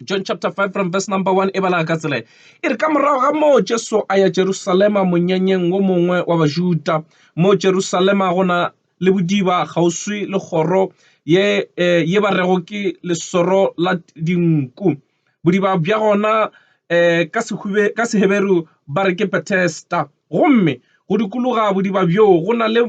john chapter 5 from verse number 1 e balaga ka tsela e re ka morago ga moo jesu a ya jerusalema monyenyeng wo mongwe wa bajuda mo jerusalema go na le bodiba kgauswi le kgoro ye eh, ye ba rego ke lesoro la dinku bodiba bja gona eh, ka seheberu ba re ke betesta Gomme go dikologa bodiba bjoo go na le,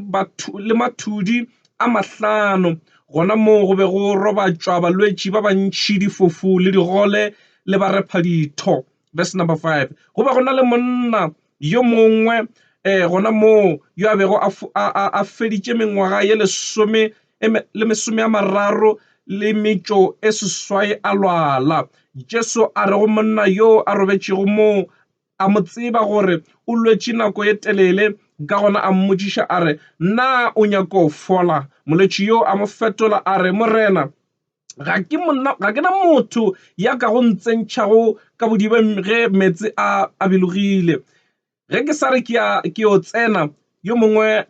le mathudi a mahlano, gona moo go be go robatšwa balwetši ba bantši, difofu le digole le barephaditho. Verse number 5, Go be go na le monna yo mongwe um gona moo yo a bego a, a, a, a feditše mengwaga ye lesome le mesome a mararo le metšo e seswai a lwala. Jesu a re go monna yoo a robetšego moo, A mo tseba gore o lwetše nako ye telele, ka gona a mmotšiša a re, Na o nyako fola? Molwetši yo a mo fetola a re, Morena, ga ke, monna, ga ke na motho ya ka go ntsentšhago ka bodibeng ge meetse a, a bilogile. Ge ke sa re ke a, ke yo tsena, yo mongwe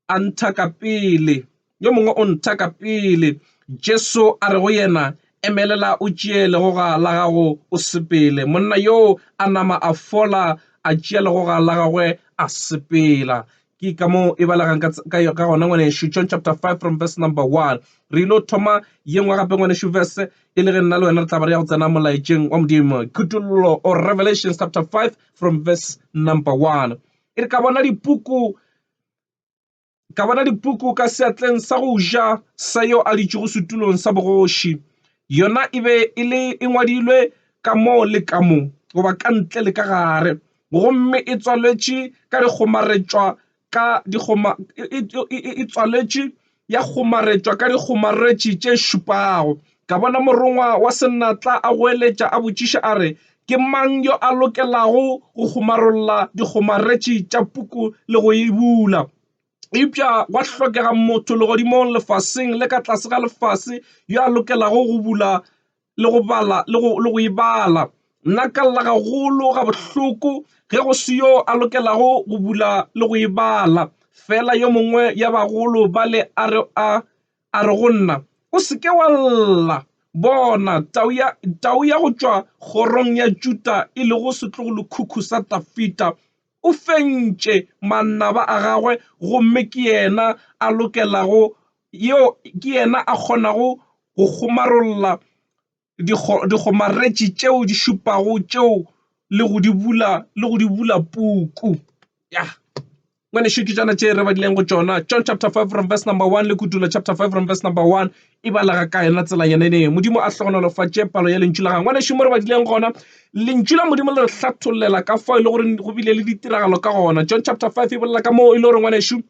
a ntha ka pele, yo mongwe o ntha ka pele. Jesu a re go yena, Emelela o tšee legoga la gago o sepele. Monna yoo a nama a fola, a tšea legoga la gagwe a sepela. ke ka mo e balegang ka gona ngwanešu john chapter 5 from verse number 1 re ile o thoma ye nngwe gape ngwanešu verse e le ge nna le wena re tla ba re ya go tsena molaetšeng wa modimo khutololo or revelation chapter 5 from verse number 1 e re ka bona dipuku Ka bona dipoko ka seatleng sa go ja sa yo a ditšego setulong sa bogoši. Yona e be e le e ngwadilwe ka mo le ka mo, goba ka ntle le ka gare, gomme e tswaletše ka dikgomaretšwa ka dikgoma, e tswaletše ya kgomaretšwa ka dikgomaretši tše šupago. Ka bona morongwa wa senatla a goeletša a botšiša a re, Ke mang yo a lokelago go kgomarolla dikgomaretši tša puku le go e bula? Eupša gwa hlokega motho legodimong, lefaseng le ka tlase ga lefase yo a lokelago go bula le go bala le go le go e bala. Nna ka lla gagolo gabohloko ge go se yo a lokelago go bula le go e bala. Fela yo mongwe ya bagolo ba le a re a a re go nna, O se ke wa lla! Bona, tau ya tau ya go tšwa kgorong ya Juda e lego setlogolokhukhu sa Dafida o fentše manaba a gagwe gomme ke yena a lokelago Yoo ke yena a kgonago go kgomarolla dikgomaretši tšeo di šupago tšeo le go di bula le go di bula puku. Ya. Ngwanešu ke tšona tše re badileng go tšona. John chapter five from verse number one le Kudulo chapter five from verse number one e balega ka yona tsela yona eo. Modimo a hlohonolofatše palo ya Lentšu la gagwe. Ngwanešu mo re badileng gona, Lentšu la Modimo le re hlatholela ka fao e le goreng go bile le ditiragalo ka gona. John chapter five e bolela ka moo e le gore ngwanešu,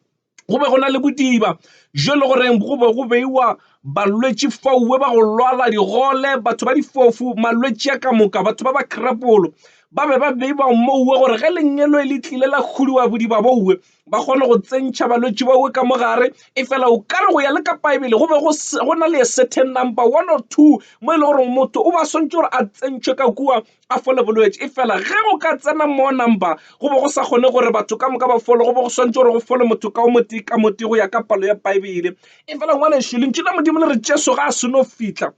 Go be go na le bodiba bjo e le goreng go be go beiwa balwetši fauwe ba go lwala digole, batho ba difofu, malwetši a ka moka, batho ba ba krapolo ba be ba beiwa mouwe gore ge lengelo e le tlile la kgodiwa bodiba bouwe ba kgone go tsentšha balwetši bauwe ka mogare. E fela o ka re go ya le ka Baebele go be go na le a certain number one or two mo e le goreng motho o ba swantšwe gore a tsentšhwe ka kua a fole bolwetši. E fela ge go ka tsena more number, go be go sa kgone gore batho ka moka ba fole, go be go swantšwe gore go fole motho ka o motee ka motee go ya ka palo ya Bible. E fela ngwanešu, Lentšu la Modimo le re Jesu ga a se no fihla,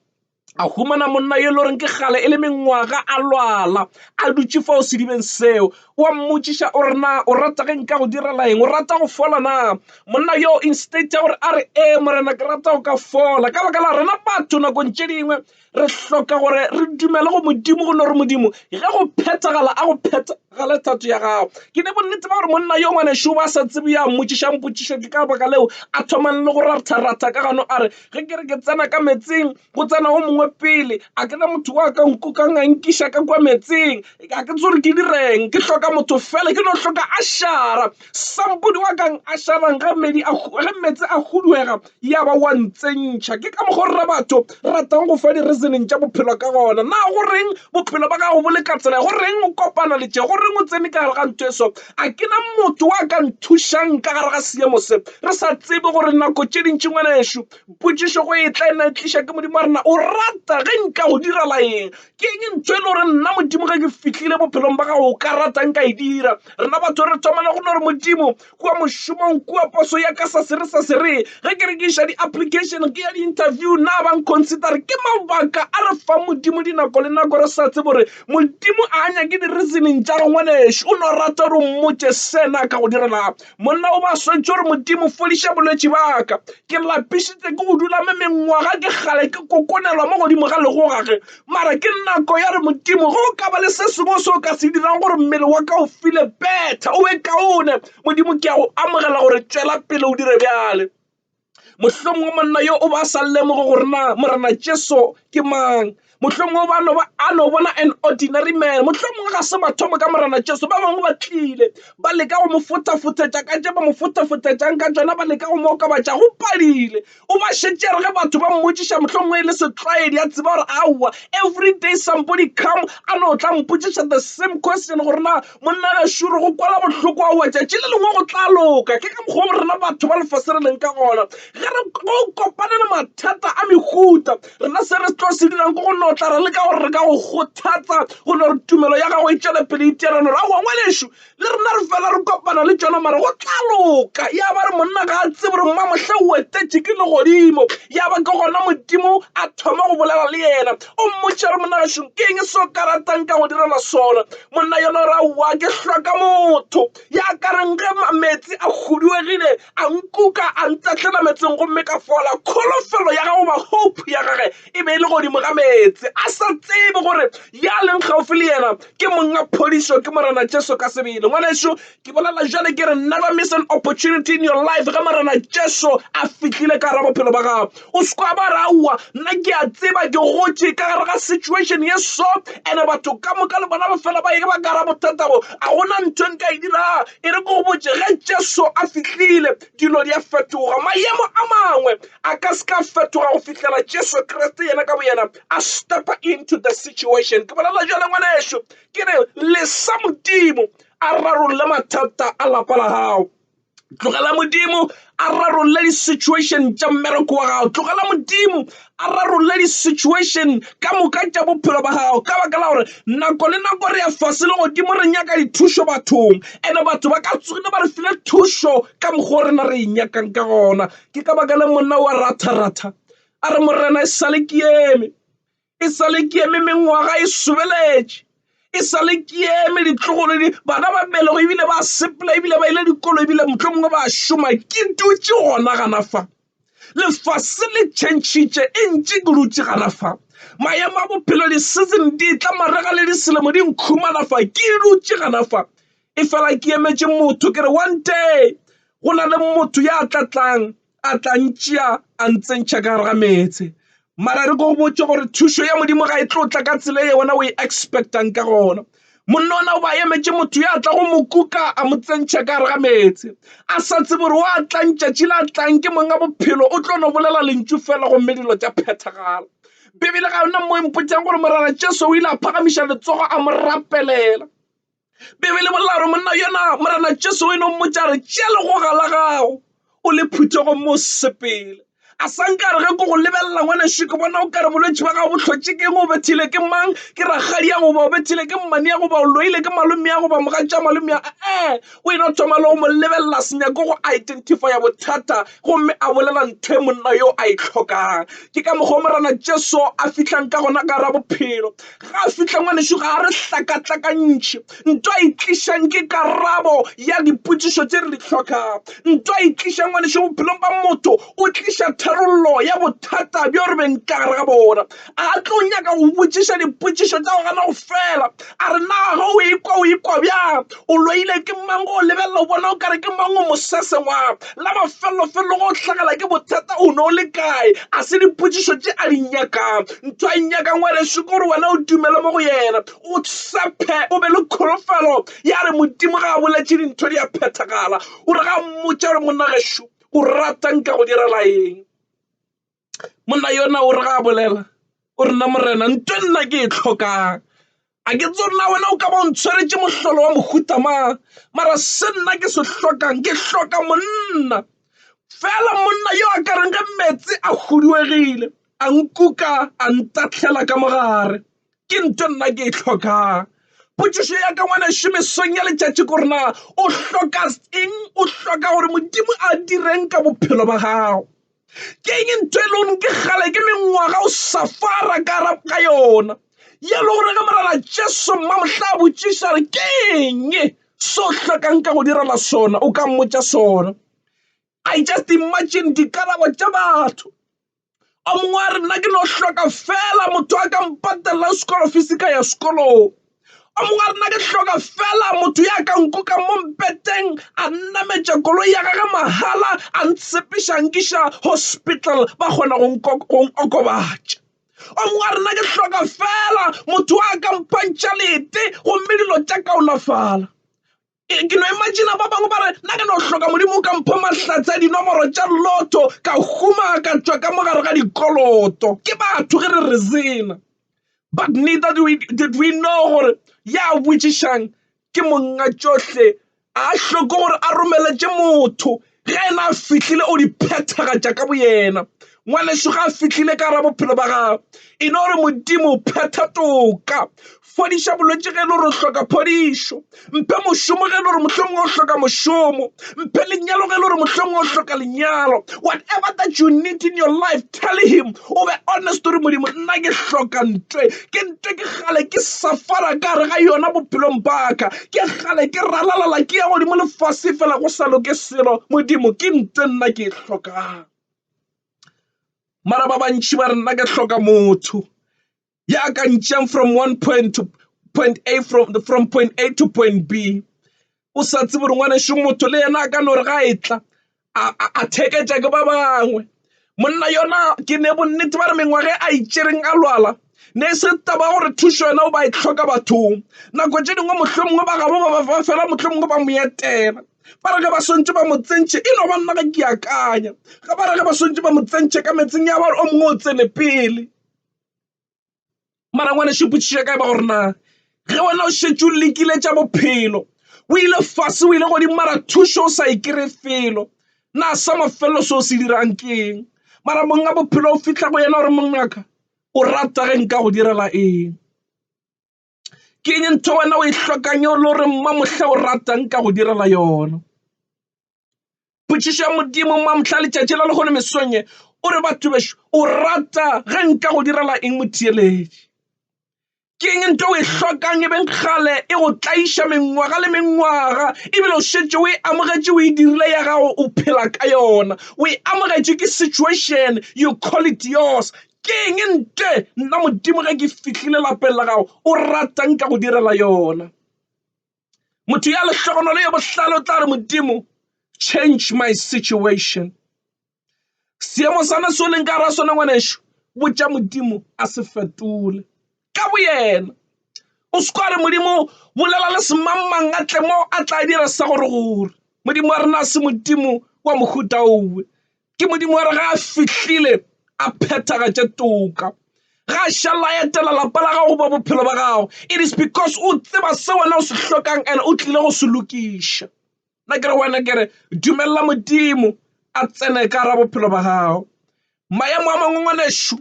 a humana monna yo e le goreng ke kgale e le mengwaga a lwala, a dutše fao sedibeng seo. O a mmotšiša o re, Na o rata ge nka go direla eng? O rata go fola na? Monna yoo instead ya gore a re, Ee, Morena, ke rata go ka fola. Ka baka la rena batho nakong tše dingwe Re hloka gore re dumele go Modimo gonne gore Modimo ge go phethagala a go phethagale thato ya gago. Ke ne bonnete ba gore monna yo ngwanešu ba sa tsebe ya mmotšišang potšišo ke ka baka leo a thomang le go ratharatha ka gano a re, Ge ke re ke tsena ka meetseng, go tsena o mongwe pele. A ke na motho wa ka nkokang a nkiša ka kua meetseng. A ke tsebe gore ke direng. Ke hloka motho fela. Ke no hloka a šara. Sambodi wa ka a šarang ge meetse a huduega. Ya ba o a ntsentšha. Ke ka mokgwa o re batho re ratang go fa di-reasoning tša bophelo ka gona. Na go reng bophelo ba gago bo le ka tsela? Go reng o kopana le tše? Go reng o tsene ka gare ga ntho e so? A ke na motho wa ka nthušang ka gare ga seemo se? Re sa tsebe gore nako tše dintši, ngwanešu, potšišo go e tla e na e tliša ke Modimo wa rena. O rata ge nka go direla eng? Ke eng ntho e le gore nna Modimo ge ke fihlile bophelong ba gago o ka ratang ka e dira? Rena batho re thomela go no re, Modimo, kua mošomong kua poso ya ka sa sere sa sere ge ke re ke iša di-application ke ya di-interview na bang consider ke mabaka a re fa modimo dinako le nako re sa tsebo gore modimo a nyake di-reasoning tša re ngwanešu o no rata gore o mmotse sena ka go direla monna o ba swetše gore modimo fodiša bolwetši baka ke lapišitse ke go dula me mengwaga ke kgale ke kokonelwa mo godimo ga legogage Mara ke nako ya re, Modimo, ge o ka ba le se sengwe se o ka se dirang gore mmele wa ka o file betha, o be kaone, Modimo, ke a go amogela gore tšwela pele o dire bjale. Mohlomongwe monna yo o ba a sa lemoge gore na Morena Jesu ke mang. Mohlomongwe ba no ba a no bona an ordinary man. Mohlomongwe ga se mathomo ka Morena Jesu. Ba bangwe ba tlile ba leka go mo fothafothetša ka tše ba mo fothafothetšang ka tšona, ba leka go mo okobatša. Go padile. O ba šetše a re ge batho ba mmotšiša mohlomongwe e le setlwaedi a tseba gore aowa every day somebody come a no tla mpotšiša the same question gore na monna gašure go kwala bohloko aowa tšatši le lengwe go tla loka ke ka mokgwa rena batho ba lefase re leng ka gona ge re go kopane le mathata a mehuta rena se re tlo se dirang ke go notla re le ka gore re ka go kgothatsa go no re tumelo ya gago e tšwele pele iteranore aowa ngwanešu le rena re fela re kopana le tšona mara go tla loka ya ba re monna ga a tsebe gore mma mohle o etetše ke legodimo ya ba ke gona modimo a thoma go bolela le yena o mmotša re monna gašong ke eng se o ka ratang ka go direla sona monna yona gore aowa ke hloka motho ya ka reng ge metsi a huduegile a nkuka a ntatlela metseng gomme ka fola kholofelo ya gago ba hope ya gage e be e le godimo ga meetse, a sa tsebe gore ya leng gaufi le yena ke monga phodišo, ke Morena Jesu ka sebele. Ngwanešu, ke bolela bjale ke re, never miss an opportunity in your life. Ge Morena Jesu a fihlile ka gare bophelo ba gago, o se kwa ba ra aowa, nna ke a tseba ke gotše ka gare ga situation ye so, and batho ka moka le bona ba fela ba eba ka gare bothata bo, a gona ntho e nka e dirago. E re ke go botše, ge Jesu a fihlile, dilo di a fetoga, mayemo a mangwe, a ka se ka fetoga go fihlela Jesu Kriste yena ka boyena a stepa into the situation. Ke bolela jalo ngwaneso, ke re lesa Modimo a rarolle mathata a lapa la gago. Tlogela Modimo a rarolle di-situation tša mmereko wa gago. Tlogela Modimo a rarolle di-situation ka moka tša bophelo ba gago ka baka la gore nako le nako re ya fase le godimo re nyaka dithušo bathong, and-e batho ba ka tsogile ba re file thušo ka mokgwa o rena re e nyakang ka gona. ke ka baka la monna wa ratha ratha a re morena e sale ke eme e sale ke eme mengwaga e sobeletše e sale ke eme ditlogolo di bana ba belego ebile ba sepela ebile ba ile dikolo ebile motlho mongwe ba šoma ke dutše gona gana fa lefase le tšhentšhitše e ntše ke dutše gana fa maemo a bophelo di-season di tla marega le diselemo di nkhumana fa ke dutše gana fa e fela ke emetše motho ke re one day go na le motho ya tla tlang a tla ntšea a ntsentšha ka gare ga meetse mara re ko botse gore thušo ya modimo ga e tlo tla ka tsela e wena o e expectang ka gona monna ona o ba emetše motho ya tla go mo kuka a mo tsentšha ka gare ga meetse a sa tsebe gore wa tlang tšatši la tlang ke monga bophelo o tlo no bolela lentšu fela gomme dilo tša phethagala bibele ga yona mo e mpotšang gore morara jesu o ile a phagamiša letsogo a mo rapelela Bibele bolela gore monna yona morena Jesu o e no mmotša re tšea legoga la gago o le phuthe go mo sepele a sa nkare ge ko go lebelela ngwaneso ke bona o kare bolwetse ba gago bo hlotše keng o bethile ke mang ke rakgadi ya goba o bethile ke mmane ya goba o loile ke malome ya goba mogatša malome ya ee o e no thoma le go mo lebelela senyako go identifya bothata gomme a bolela ntho e monna yo a e hlokang. Ke ka mokgwa o Morena Jesu a fihlang ka gona ka gare bophelo. Ga a fihle ngwanešu ga a re hlakahlakantšhe. Nto a e tlišang ke karabo ya dipotšišo tše re di hlokang. Nto a e tlišang ngwanešu bophelong ba motho o tliša tharollo ya bothata bjo re beng ka gare ga bona. a tlo nyaka go botšiša dipotšišo tša go gana go fela a re na ga o ikwa o ikwa bjang o loile ke mang go lebelela o bona o kare ke mang o mosese wa la mafelofelo go hlagala ke bothata o ne o le kae a se dipotšišo tše a di nyakang ntho a e nyakang wa reše gore wena o dumele mo go yena o tsephe o be le kholofelo ya re modimo ga a boletše dintho di a phethagala o re ga mmotša gore monna gešo o ratang ka go direla eng monna yona o re ga a bolela o re nna morena ntho nna ke e tlhokang a ke tse nna wena o ka ba o ntshwaretse mohlolo wa mohuta mang mara se nna ke se hlokang ke hloka monna fela monna yo a ka reng ge meetse a huduegile a nkuka a ntahlela ka mogare ke ntho nna ke e tlhokang. Potšišo ya ka ngwana šome song ya letšatši ko rena o hloka eng o hloka gore Modimo a direng ka bophelo ba gago. ke eng ntho e leng ke kgale ke mengwaga o sa fara ka arab ka yona ye le gore ge morena jesu mma mohla a botšiša re ke eng so hlokang ka go direla sona o ka mmotša sona i just imagine dikarabo tša batho o mongwe a re nna ke no hloka fela motho a ka mpatelela school fees ka ya sekolong o mongwe a rena ke hloka fela motho ya ka nkuka mo mpeteng a nnametša koloi ya gage mahala a ntshepiša nkiša hospital ba kgona go okobatša o mongwe a rena ke hloka fela motho a ka mphantšha lete gomme dilo tša kaonafala Ke no imagina ba bangwe ba re na ke no hloka modimo o ka mpho mahlatse a dinomoro tša lotho ka huma ka tšwa ka mo gare ga dikoloto ke batho ge re re zena but neither do we, did we know gore ya botšišang ke monga tšohle a hloko gore a romeletše motho Ge yena a fihlile, o di phethagatša ka boyena. Ngwanešu, ge a fihlile ka gare bophelo ba gago, e no re, Modimo, phetha toka. Fodiša bolwetši ge e le gore o hloka phodišo. Mphe mošomo ge e le gore mohlomongwe o hloka mošomo. Mphe lenyalo ge e le gore mohlomongwe o hloka lenyalo. Whatever that you need in your life, tell Him, o be honest, o re, Modimo, nna ke hloka ntwe. ke ntše ke kgale ke suffer-a ka gare ga yona bophelong ba ka ke kgale ke ralala ke ya godimo le fase fela go sa loke selo modimo ke ntse nna ke e tlhokang mara ba bantši ba re nna ke hloka motho ya ka ntšeng from one point to point a from the from point a to point b o sa tsebe gore ngwanešu motho le yena a ka no re ga e tla a theketša ke ba bangwe monna yona ke ne bonnete ba re mengwaga a itšereng a lwala ne se taba gore thušo yona o ba e tlhoka bathong nako tše dingwe mohlho mongwe ba gabo ba ba fela mohlho mongwe ba mo etela ba re ge ba swantse ba mo tsentšhe e no ba nna ke akanya ga ba re ge ba swantse ba mo tsentšhe ka metseng ya bare o mongwe o tsene pele Mara ngwanešu potšišo ya ka e ba gore na ge wena o šetše o lekile tša bophelo o ile fase o ile godimo mara thušo o sa e kry felo na sa mafelelo se o se dirang ke eng mara monga bophelo o fitlha go yena gore mongaka o rata ge nka go direla eng. ke eng ntho wena o e hlokang o le gore mma mohla o ratang ka go direla yona potšišo ya modimo mma mohla letšatši la lehono mesong e o re batho bešo o rata ge nka go direla eng motheeletši ke eng ntho o e hlokang e beng kgale e go tlaiša mengwaga le mengwaga ebile o šetše o e amogetše o e dirile ya gago o phela ka yona o e amogetše ke situation you call it yours Ke eng ntle, nna Modimo, ge ke fihlile lapeng la gago? O rata nka go direla yona. Motho ya lehlogonolo ye bohlale o tla re, Modimo, change my situation. Seemo sana se o leng ka ra sona, ngwanešu, botša Modimo a se fetole. ka boyena. O se kwa re, Modimo, bolela le semangmang a tle mo, a tla dira sa gore gore. Modimo wa rena a se Modimo wa mohuta owe. Ke Modimo wa re ga a fihlile a phethagatše toka. Ga a šalla a etela lapa la gago goba bophelo ba gago. It is because o tseba se wena o se hlokang and o tlile go se lokiša. Nna ke re wena ke re dumelela Modimo a tsene ka gara bophelo ba gago. Maemo a mangwe ngwanešu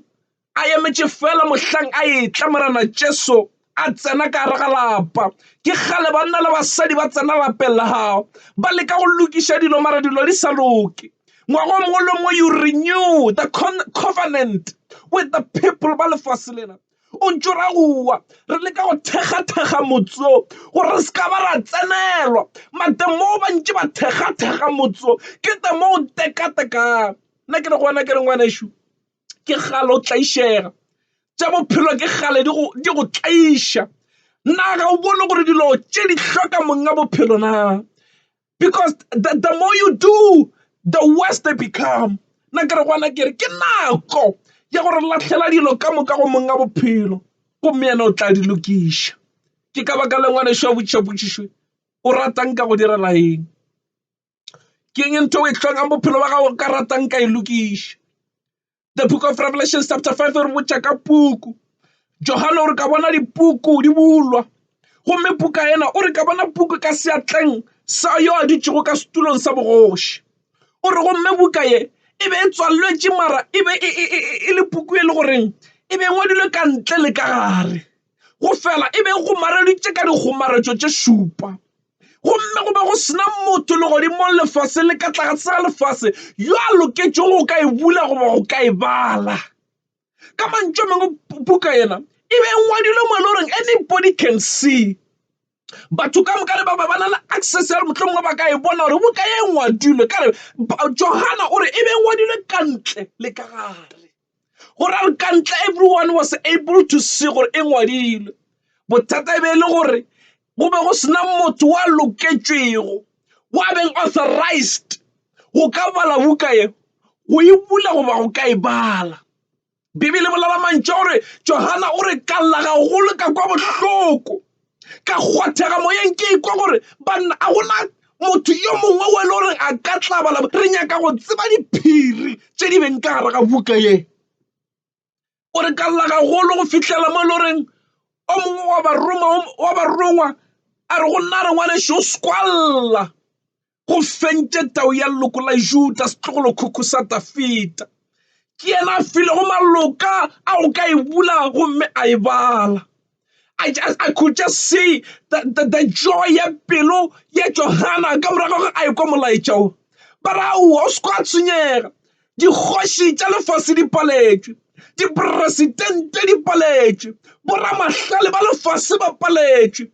A emetše feela mohlang a etla, Morena Jesu, a tsena ka gare ga lapa. Ke kgale banna le basadi ba tsena lapeng la gago, ba leka go lokiša dilo, mara dilo di sa loke. Ngwaga o mongwe le o mongwe, you renew the covenant with the people ba lefase lena. O ntše o ra go wa, re leka go thekgathekga motse wo, gore re se ka ba ra tsenelwa. Mademon ba ntše ba thekgathekga motse wo, ke demon tekatekano. Nna ke re go wena, ke re, Ngwanešu, ke kgale o tlaišega tša bophelo ke kgale di go tlaiša na ga o bone gore dilo tše di hloka monga bophelo na because the more you do the worse they become nna ke re gona ke re ke nako ya gore lahlela dilo ka moka go monga bophelo gomme yena o tla di lokiša. Ke ka baka la ngwana šwa botšiša potšišo o ratang ka go direla eng. ke eng ntho e hlokang bophelo ba gago ka ratang ka e lokiša the book of revelation chapter five re botša ka puku johane o re ka bona dipuku di bulwa gomme puka ena o re ka bona puku ka seatleng sa yo a dutšego ka setulong sa bogoši o re gomme buka ye e be e tswaletswe mara e be e le puku e le goreng e be ngwadilwe ka ntle le ka gare. go fela e be go mareleditše ka dikgomaretšo tše šupa gomme go be go sena motho le godimo lefase le ka tlatse ga lefase yo a loketšego go ka e bula goba go ka e bala ka mantšu a mangwe buka yena e be e ngwadilwe mo e le goreng anybody can see batho ka moka le ba ba na le access ya mohlomongwe ba ka e bona gore buka e ngwadilwe ka re johana o re e be ngwadilwe ka ntle le ka gare go ra re ka ntle everyone was able to see gore e ngwadilwe bothata e be e le gore go be go sena motho wa loketšwego wa beng authorized go ka bala buka ye go e bula goba go ka e bala Bibele e bolela mantšu a gore Johana o re ka lla gagolo ka kwa bohloko ka kgwathega moyeng ke ikwa gore banna a gona motho yo mongwe o e le gore a ka tla bala re nyaka go tseba diphiri tše di beng ka gare ga buka ye o re ka lla gagolo go fihlela mo e le goreng o mongwe wa barongwa a re go nna re ngwanešu o skwalla Go fentše tau ya leloko la Juda, setlogolokhukhu sa Dafida. Ke yena a filego maloka a o ka e bula gomme a e bala. I, just, I could just see the, the, the joy ya pelo ya Johana ka morago ga a ekwa molaetša o. Ba ra aowa, o se kwa tshwenyega. Dikgoši tša lefase di paletšwe, diperesitente di paletšwe, boramahlale ba lefase ba paletšwe,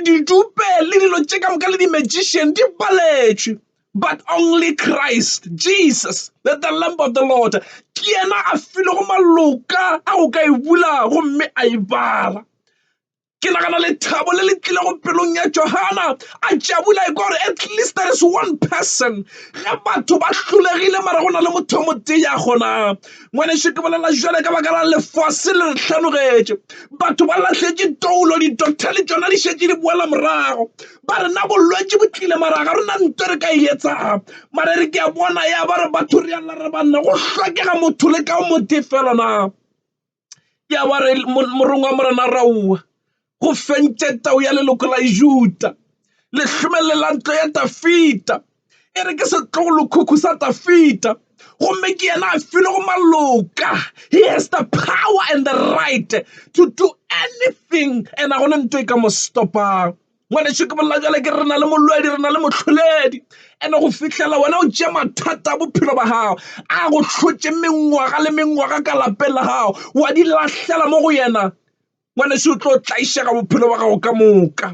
ditupe le dilo tše ka moka le di-magician di paletšwe, but only Christ Jesus, the Lamb of the Lord, ke yena a filwego maloka a go ka e bula gomme a e bala. Ke nagana lethabo le le tlilego pelong ya Johana. A tšabula ekwa gore at least there is one person. Ge batho ba hlolegile mara go na le motho o motee ya kgonang. Ngwanešu ke bolela jwale ka baka la lefase le re hlanogetše. Batho ba lahletše toulo, di-doctor le tšona di šetše di boela morago. Ba re na bolwetši bo tlile mara ga re na nto re ka e etsang. Mara e re ke a bona ya ba re batho re a lla re banna go hlokega motho le ka o motee feela na. ya wa re morongwa wa morena raua go fentše tau ya leloko la juta le hlomelele la ntlo ya tafita e re ke setlogokhukhu sa tafita gomme ke yena a filo go maloka he has the power and the right to do anything and a gona ntho e ka mo stop-ang. Ngwanešu ke bolela bjale ke re na le molwedi re na le mohloledi ene go fihlela wena o tšea mathata a bophelo ba gago a go hlotše mengwaga le mengwaga ka lapeng la gago wa di lahlela mo go yena ngwanešu o tlo tlaišega bophelo ba gago ka moka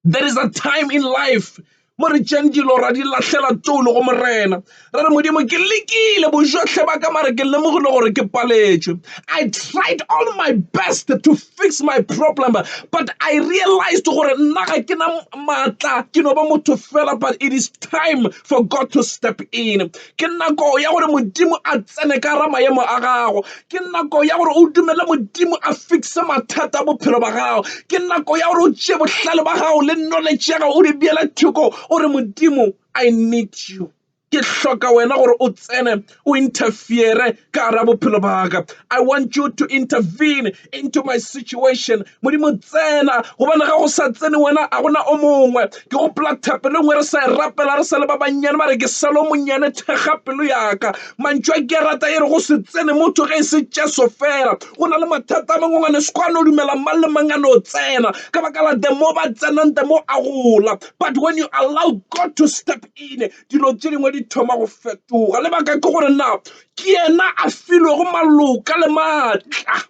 there is a time in life mo re tšeng dilo ra di lahlela tono go morena re re modimo ke lekile bojotlhe ba ka mare ke lemogile gore ke paletšwe i tried all my best to fix my problem but i realized gore nna ga ke na maatla ke no ba motho fela but it is time for god to step in ke nako ya gore modimo a tsene ka ra maemo a gago ke nako ya gore o dumele modimo a fixe mathata a bophelo ba gago ke nako ya gore o tšee bohlale ba gago le knowledge ya gago o di beele thoko o re modimo i need you ke hloka wena gore o tsene o interfere ka ra bophelo ba ka i want you to intervene into my situation modimo tsena gobane ga go sa tsene wena a gona o mongwe ke gopola thapelo nngwe re sa e rapela re sa le ba bannyane ba re ke salo monnyane thekga pelo yaka mantšwa ke rata e re go se tsene motho ge e se jesu fela o na le mathata a mangwangwane se kwane o dumela mang le mang a no tsena ka baka la the mo ba tsenang the mo a gola but when you allow god to step in dilo tse dingwe di thoma go fetoga lebaka ke gore na ke yena a filwego maloka le maatla.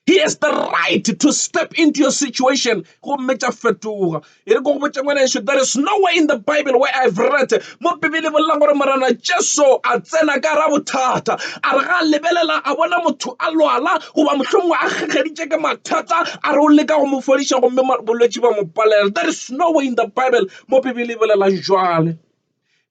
He has the right to step into your situation. Gomme tša fetoga. E re ko go botša ngwana ešo, there is nowhere in the Bible where I've read. Mo Bibele bolela gore Morena Jesu a tsena ka ra bothata. A re ga a lebelela a bona motho a lwala goba mohlomongwe a kgegeditše ke mathata a re o leka go mo fodiša gomme bolwetši ba mo palela. There is nowhere in the Bible mo Bibele e bolelang bjale.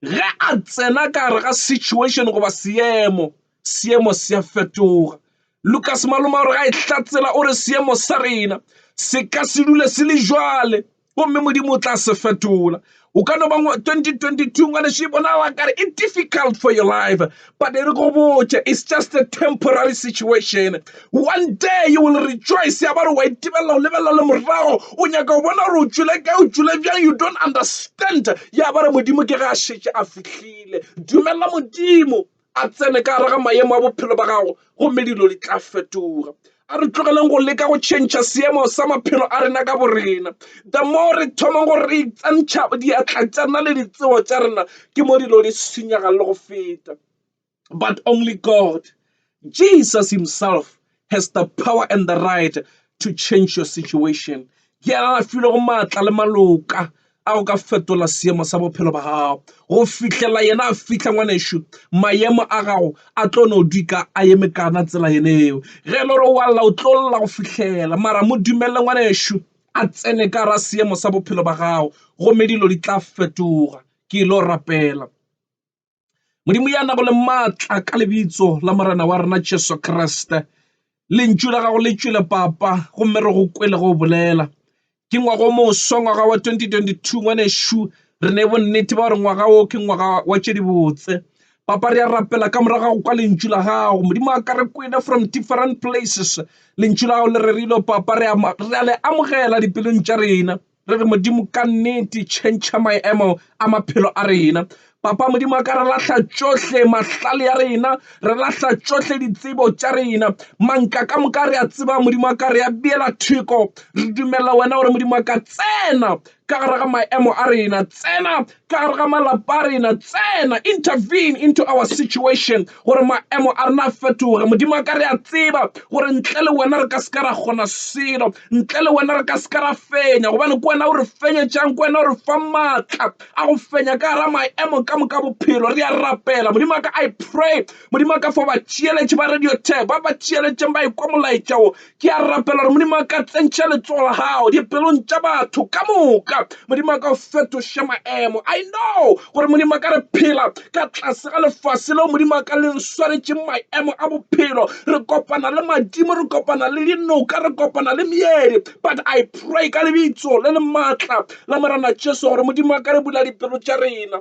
Ge a tsena ka gare ga situation goba seemo, seemo se a fetoga. Lucas Maloma o re ga e hlatsela o re seemo sa rena se ka se dule se le jwale gomme Modimo o tla se fetola. O ka no ba 2022 ngwaneso e bonala kare e difficult for your life But e re go botše, it's just a temporary situation. One day you will rejoice, ya ba re wa itebelela o lebelela le morago, o nyaka o bona gore o tšwele kae, o tšwele bjang, you don't understand. Ya ba re Modimo ke ge a šetše a fihlile. Dumela Modimo a tsene ka gare ga maemo a bophelo ba gago, gomme dilo di tla fetoga. a re tlogeleng go leka go tšhentšha seemo sa maphelo a rena ka borena the more re thomang gore re itsantšha diatla tša rena le ditsebo tša rena ke mo dilo di senyaga le go feta but only god jesus himself has the power and the right to change your situation ke a a filego maatla le maloka a go ka fetola seemo sa bophelo ba gago go fihlela yena a fihla. Ngwanešu maemo a gago a tlo no dika a eme kana tsela yene eo ge e le gore wa lla o tlo lla go fihlela mara mo dumelele ngwanešu a tsene ka gare a seemo sa bophelo ba gago gomme dilo di tla fetoga. Ke ilo rapela. modimo ya nago le maatla ka lebitso la morena wa rena jesu kriste lentšu la gago le tšwele papa gomme re go kwele go bolela ke ngwaga o moswa ngwaga wa 2022 ngwanešu re ne bonnete ba gore ngwaga o ke ngwaga wa tše dibotse papa re a rapela ka morago gago kwa lentšu la gago modimo a ka re kwele from different places lentšu la gago le rerilwe papa re a le amogela dipelong tša rena Re re, Modimo, ka nnete tšhentšha maemo a maphelo a rena. Papa Modimo a ka re lahla tšohle mahlale a rena, re lahla tšohle ditsebo tša rena. Manka ka moka re a tseba Modimo a ka re a beela theko. Re dumelela wena gore Modimo a ka tsena ka gare ga maemo a rena, tsena ka gare ga malapa a rena, tsena, intervene into our situation, gore maemo a rena a fetoge. Modimo wa ka, re a tseba gore ntle le wena re ka se ka ra kgona selo, ntle le wena re ka se ka ra fenya, gobane ke wena o re fenyetšang, ke wena o re fa maatla a go fenya ka gare ga maemo ka moka bophelo. Re a rapela, Modimo wa ka, I pray, Modimo wa ka, for batšeeletši ba Radio Tag, ba ba tšeeletšeng ba ekwa molaetša wo, Ke a rapela gore Modimo a ka tsentšha letsogo la gago dipelong tša batho ka moka. Modimo a ka o fetoše maemo. I know gore Modimo a ka re phela ka tlase ga lefase leo Modimo a ka le re swaretšeng maemo a bophelo. Re kopana le madimo, re kopana le dinoka, re kopana le meedi. But I pray ka lebitso le le maatla la Morena Jesu gore Modimo a ka re bula dipelo tša rena.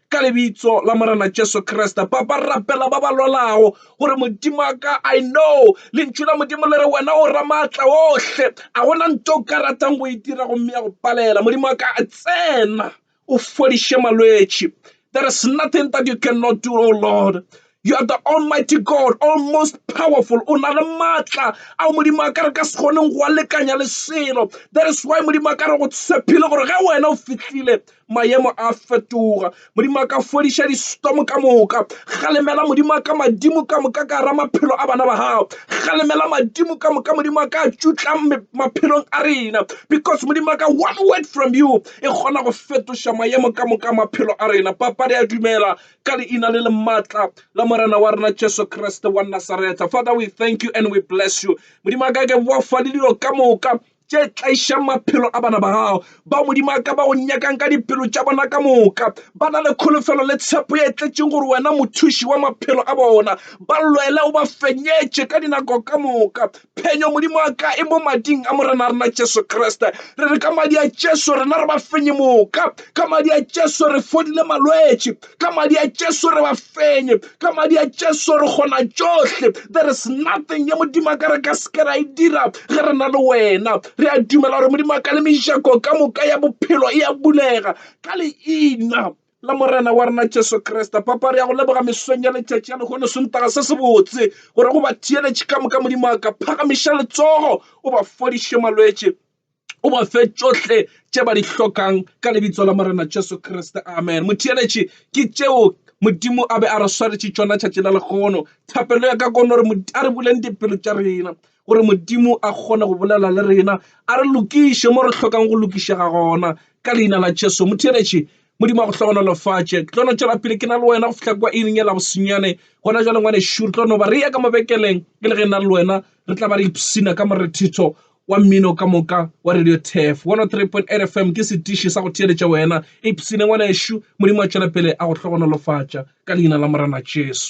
Ka lebitso la Morena Jesu Kriste, Papa, rapela ba ba lwalago gore Modimo a ka, I know lentšu la Modimo le re wena o ramaatla ohle, a gona nto o ka ratang go e dira gomme ya go palela. Modimo wa ka, tsena o fodiše malwetši. There is nothing that you cannot do, O Lord. You are the almighty God, all most powerful. O na le matla ao modimo a ka re ka se kgoneng go a lekanya le selo. That is why modimo a ka re go tshepile gore ge wena o fihlile maemo a fetoga. Modimo a ka fodiša distorm ka moka. Galemela modimo a ka madimo ka moka ka ra maphelo a bana ba gago. Galemela madimo ka moka modimo a ka tšutla maphelong a rena because modimo a ka one word from you e kgona go fetoša maemo ka moka maphelo a rena. Papa re a dumela ka leina le le maatla la morena wa rena jesu kriste wa nasaretha father we thank you and we bless you modimo a ka ke boa fa le dilo ka moka tše tlaišang maphelo a bana ba gago ba modimo a ka ba go nyakang ka dipelo tša bona ka moka ba na le kholofelo le tshepo ye tletseng gore wena mothuši wa maphelo a bona ba lwele o ba fenyetše ka dinako ka moka Phenyo, Modimo wa ka, e mo mading a Morena rena Jesu Kriste. Re re ka madi a Jesu rena re ba fenye moka. Ka madi a Jesu re fodile malwetši. Ka madi a Jesu re ba fenye. Ka madi a Jesu re kgona tšohle. There is nothing ye Modimo wa ka re ka seke ra e dira ge re na le wena. Re a dumela gore Modimo wa ka le mejako ka moka ya bophelo e a bulega ka leina la morena wa rena jesu kriste papa re ya go leboga mesong ya letšatši ya lehono sontaga se se botse gore go ba theeletše ka moka modimo a ka phagamiša letsogo o ba fodiše malwetše o ba fe tšohle tše ba di hlokang ka lebitso la morena jesu kriste amen motheeletše ke tšeo modimo a be a re swaretše tšona tšatši la legono thapelo ya ka kono re a re buleng dipelo tša rena gore Modimo a kgone go bolela le rena a re lokiše mo re hlokang go lokišega gona ka leina la Jesu. Motheeletše, Modimo a go hlogonolofatše. Ke tlo no tšwela pele ke na le wena go fihla kwa iring ya labosonyane gona jale ngwanešu re tlo no ba re ya ka mabekeleng e le ge e na le wena re tla ba re ipshina ka morethetho wa mmino ka moka wa radio tef 103.8 fm ke setiši sa go theeletša wena ipshine ngwanešu modimo a tšwela pele a go hlogonolofatša ka leina la morena jesu